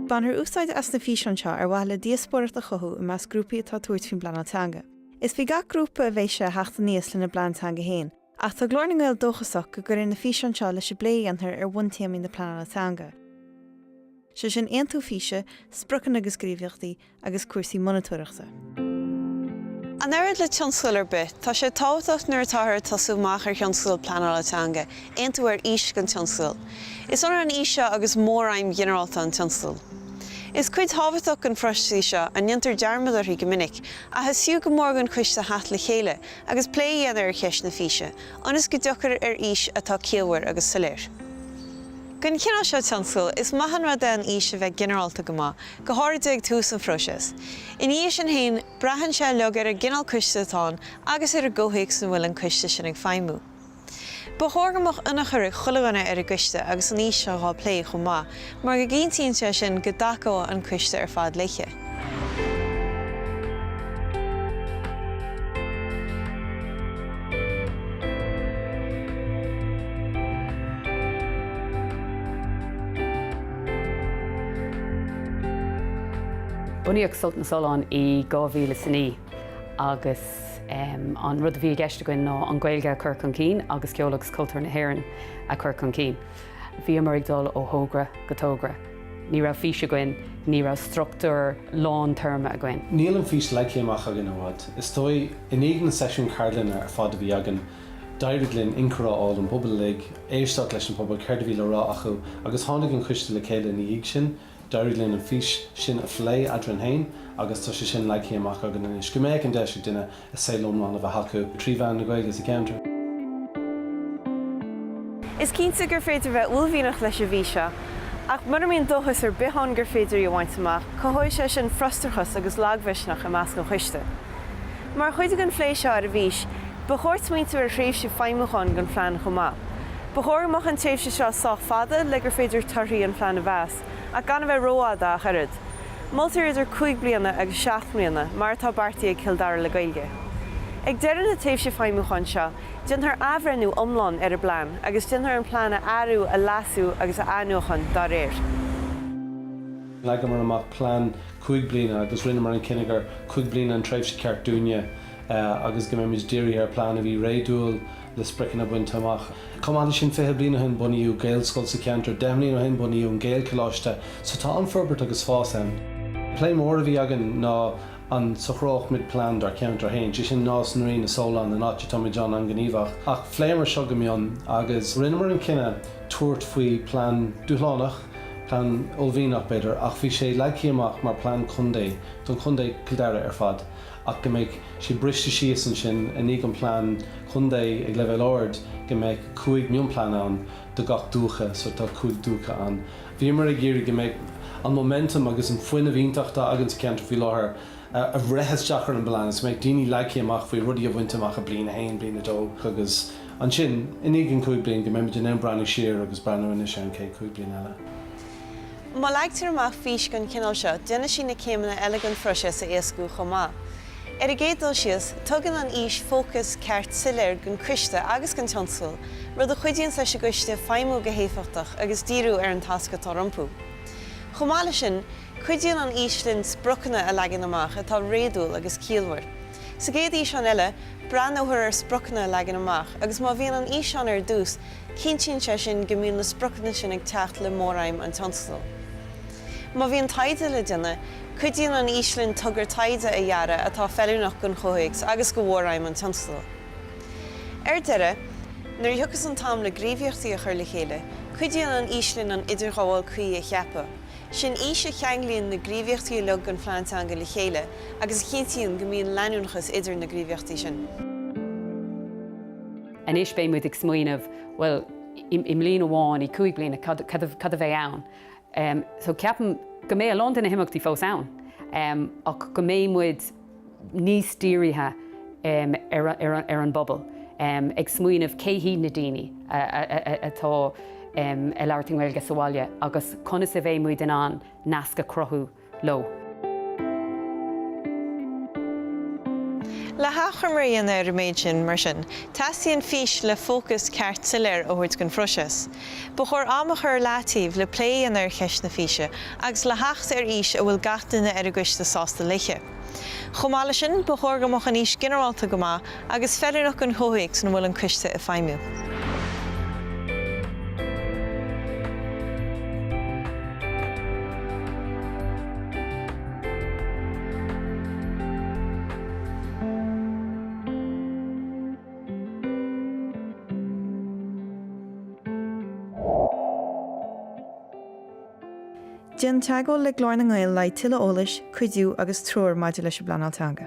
Bainfear úsáid as na físeáin seo ar mhaithe le díospóireacht a chothú i measc grúpaí atá ag tabhairt faoin bpleanáil teanga. Is faoi gach grúpa a bheidh sé a theacht aníos lena bplean teanga féin, Ach tá Glór na nGael dóchasach go gcuirfidh na físeáin seo leis an bplé a dhéanfar ar bhuntéamaí na pleanála teanga, sé sin aontú físe, spriocanna agus gníomhaíochtaí, agus cúrsaí monatóireachta. An oiread le tionscadal ar bith, tá sé tábhachtach nuair atáthar ag tosú amach ar thionscadal pleanála teanga, aontú ar fhís don tionscadal. Is ionann an fhís seo agus móraidhm ghinearálta an tionscadail. Is cuid thábhachtach den phróiseas í seo, a ndéantar dearmad uirthi go minic, ach is fiú go mór don choiste theacht le chéile, agus plé a dhéanamh ar cheist na físe, ionas go dtiocfar ar fhís atá ciallmhar agus soiléir. Don chineál seo tionscail, is maith an rud é an fhís a bheith ginearálta go maith, go háirithe ag tús an phróiseas. Ina dhiaidh sin féin, braitheann sé uilig ar an gcineál coiste atá ann agus ar an gcomhthéacs ina bhfuil an coiste sin ag feidhmiú. Ba chóir go mbeadh ionchur ag chuile dhuine ar an gcoiste agus an fhís seo dhá plé chomh maith mar go gcinntíonn sé sin go dtacóidh an coiste ar fad léi. Bunaíodh Sult na Sollán i 2009 agus. An rud a bhí i gceist againn ná an Ghaeilge a chur chun cinn agus ceol agus cultúr na hÉireann a chur chun cinn. Bhíomar ag dul ó thogra go togra. Ní raibh fís againn, ní raibh struchtúr long-term againn. Níl an fís leagthaí amach againn i bhfad, is dóigh. I ndiaidh na seisiún ceardlainne ar fad a bhí againn, d'éirigh linn inchur a fháil ón bpobal uilig, éisteacht leis an bpobal, céard a bhí le rá acu, agus tháinig an coiste le chéile ina dhiaidh sin. D'éirigh linn an fís sin a phlé eadrainn féin agus tá sé sin leagthaí amach againn anois, go mbeadh an deis ag duine a saol iomlán a bheith acu trí mheán na Gaeilge sa gceantar. Is cinnte gur féidir bheith uaillmhianach leis an bhfís seo, ach mura mbíonn dóchas ar bith ann gur féidir í a bhaint amach, cothóidh sé sin frustrachas agus lagmhisneach i measc an choiste. Mar chuid den phlé seo ar an bhfís, ba chóir smaointiú ar thréimhse feidhmiúcháin don phlean chomh maith. Ba chóir go mbeadh an tréimhse seo sách fada le gur féidir torthaí an phlean a mheas, ach gan a bheith rófhada ach oiread. Moltar idir cúig bliana agus seacht mbliana, mar atá beartaithe ag Cill Dara le Gaeilge. Ag deireadh na tréimhse feidhmiúcháin seo, déanfar athbhreithniú iomlán ar an bplean agus déanfar an plean a athrú, a leasú agus a athnuachan dá réir. Leagamar amach plean cúig bliana agus rinneamar an cinneadh gur cúig bliana an tréimhse ceart dúinne agus go mbeimid dírithe ar plean a bhí réadúil le spriocanna bainte amach. Chomh maith leis sin, fiche bliain ó shin bunaíodh Gaelscoil sa cheantar, deich mbliain ó shin bunaíodh an Gaelcholáiste, so tá an-fhorbairt agus fás ann. Plé mór a bhí againn ná an socródh muid plean dár cheantar féin, sé sin Nás na Rí, na Solláin, an áit a táimid an-ghníomhach, ach phléamar seo go mion agus rinneamar an cinneadh tabhairt faoi plean dúshlánach, Plean uaillmhianach, b'fhéidir, ach bhí sé leagtha amach mar plean contae don chontae, Cill Dara ar fad, ach go mbeadh sé briste síos ansin i ndiaidh an plean contae ag leibhéal ard, go mbeadh cúig mionplean ann do gach dúiche, so tá cúig dúiche ann. Bhíomar ag iarraidh go mbeadh an momentum agus an fuinneamh iontach atá againn sa cheantar faoi láthair a bhreith isteach ar an bplean is go mbeadh daoine leagtha amach faoi rudaí a bhaint amach i bliain a haon, bliain a dó agus. Ansin, i ndiaidh an cúig bliana, go mbeimid in ann breathnú siar agus breathnú anois ar an chéad chúig bliana eile. Má leagtar amach fís den chineál seo, déanfaidh sí na céimeanna eile den phróiseas a éascú chomh maith. Ar an gcéad dul síos, tugann an fhís fócas ceart soiléir don Coiste agus don tionscadal, rud a chuidíonns leis an gCoiste feidhmiú go héifeachtach agus díriú ar an tasc atá rompu. Chomh maith leis sin, cuidíonn an fhís linn spriocanna a leagan amach atá réadúil agus ciallmhar. Sa gcéad fhíseán eile, Breathnófar ar spriocanna a leagan amach agus má bhíonn an fhís ann ar dtús, cinntíonn sé sin go mbíonn na spriocanna sin ag teacht le móraidhm an tionscadail. Má bhíonn taighde le déanamh, cuidíonn an fhís linn togra taighde a dhearadh atá feiliúnach don chomhthéacs agus do mhóraidhm an tionscadail. Ar deireadh, nuair a thiocfas an t-am le gníomhaíochtaí a chur le chéile, cuidíonn an fhís linn an idirghabháil cuí a cheapadh. Is í an fhís a cheanglaíonn na gníomhaíochtaí uilig den phlean teanga le chéile agus a chinntíonn go mbíonn leanúnachas idir na gníomhaíochtaí sin. Anois beidh muid ag smaoineamh, bhuel, i mbliain amháin, i gcúig bliana, cad a bheidh ann? So ceapaim go mbeidh a lán de na himeachtaí fós ann ach go mbeidh muid níos dírithe ar an bpobal, ag smaoineamh cé hiad na daoine atá ag labhairt na Gaeilge sa bhaile agus conas a bheidh muid in ann naisc a chruthú leo. Le hachoimre a dhéanamh ar an méid sin, mar sin, teastaíonn fís le fócas ceart soiléir a thabhairt don phróiseas. Ba chóir am a chur i leataobh le plé a dhéanamh ar cheist na físe agus le theacht ar fhís a bhfuil gach duine ar an gcoiste sásta léithe. Chomh maith leis sin, ba chóir go mbeadh an fhís ginearálta go maith agus feiliúnach don chomhthéacs ina bhfuil an coiste ag feidhmiú. Déan teagmháil le Glór na nGael le haghaidh tuilleadh eolais, cuidiú agus treoir maidir leis an bpleanáil teanga.